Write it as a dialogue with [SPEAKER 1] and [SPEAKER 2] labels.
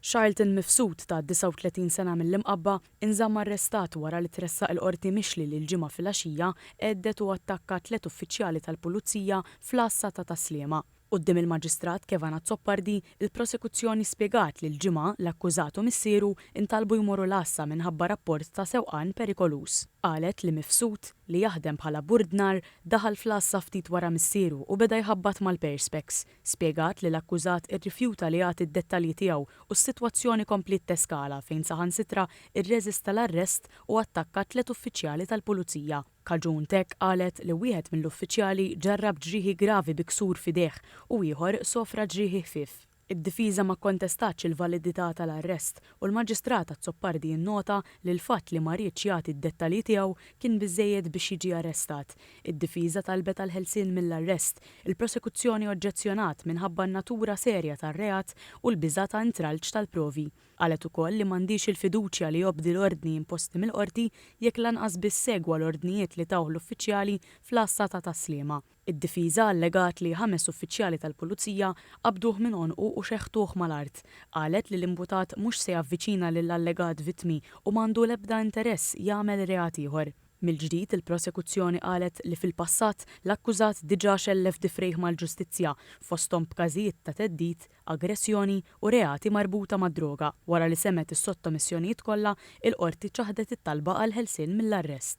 [SPEAKER 1] Charlton Mifsud ta' 39 sena mill-Imqabba inżamm arrestat wara li tressaq il-Qorti mixli li l-Ġimgħa filgħaxija għeddet u attakka tliet uffiċjali tal-Pulizija fl-Għassa ta' Tas-Sliema. Quddiem il-Maġistrat Kevan Azzopardi, il-Prosekuzzjoni spjegat li l-Ġimgħa l-akkużat u missieru ntalbu jmorru l-Għassa minħabba rapport ta' sewqan perikoluż. Qalet li Mifsud, li jaħdem bħala burdnar, daħal fl-Għassa ftit wara missieru u beda jħabbat mal-Perspex. spjegat li l-akkużat irrifjuta li jagħti d-dettalji tiegħu u s-sitwazzjoni kompliet teskala fejn saħansitra rreżista l-arrest u attakka tliet uffiċjali tal-Pulizija. Kaġun t'hekk qalet li wieħed mill-uffiċjali ġarrab ġrieħi gravi bi ksur f'idejh u ieħor sofra ġrieħi ħfief. Id-difiża ma kkontestatx il-validità tal-arrest u l-Maġistrat Azzopardi nnota li l-fatt li ma riedx jagħti d-dettalji tiegħu kien biżżejjed biex jiġi arrestat, Id-difiża talbet għall-ħelsien mill-arrest, il-prosekuzzjoni oġġezzjonat minħabba n-natura serja tar-reat u l-biża' ta' intralċ tal-provi. Qalet ukoll li m'għandhiex il-fiduċja li jobdi l-ordni imposti mill-Qorti jekk lanqas biss segwa l-ordnijiet li tawh l-uffiċjali fl-Għassa ta' Tas-Sliema. Id-difiża allegat li ħames uffiċjali tal-Pulizija qabduh minn għonqu u xeħtuh mal-art. Qalet li l-imputat mhux se javviċina lill-allegat vittmi u m'għandu l-ebda interess jagħmel reat ieħor. Mill-ġdid, il-Prosekuzzjoni qalet li fil-passat l-akkużat diġà xellef difrejh mal-ġustizzja, fosthom b'każijiet ta' theddid, aggressjoni u reati marbuta mad-droga. Wara li semgħet is-sottomissjonijiet kollha, il-Qorti ċaħdet it-talba għall-ħelsien mill-arrest.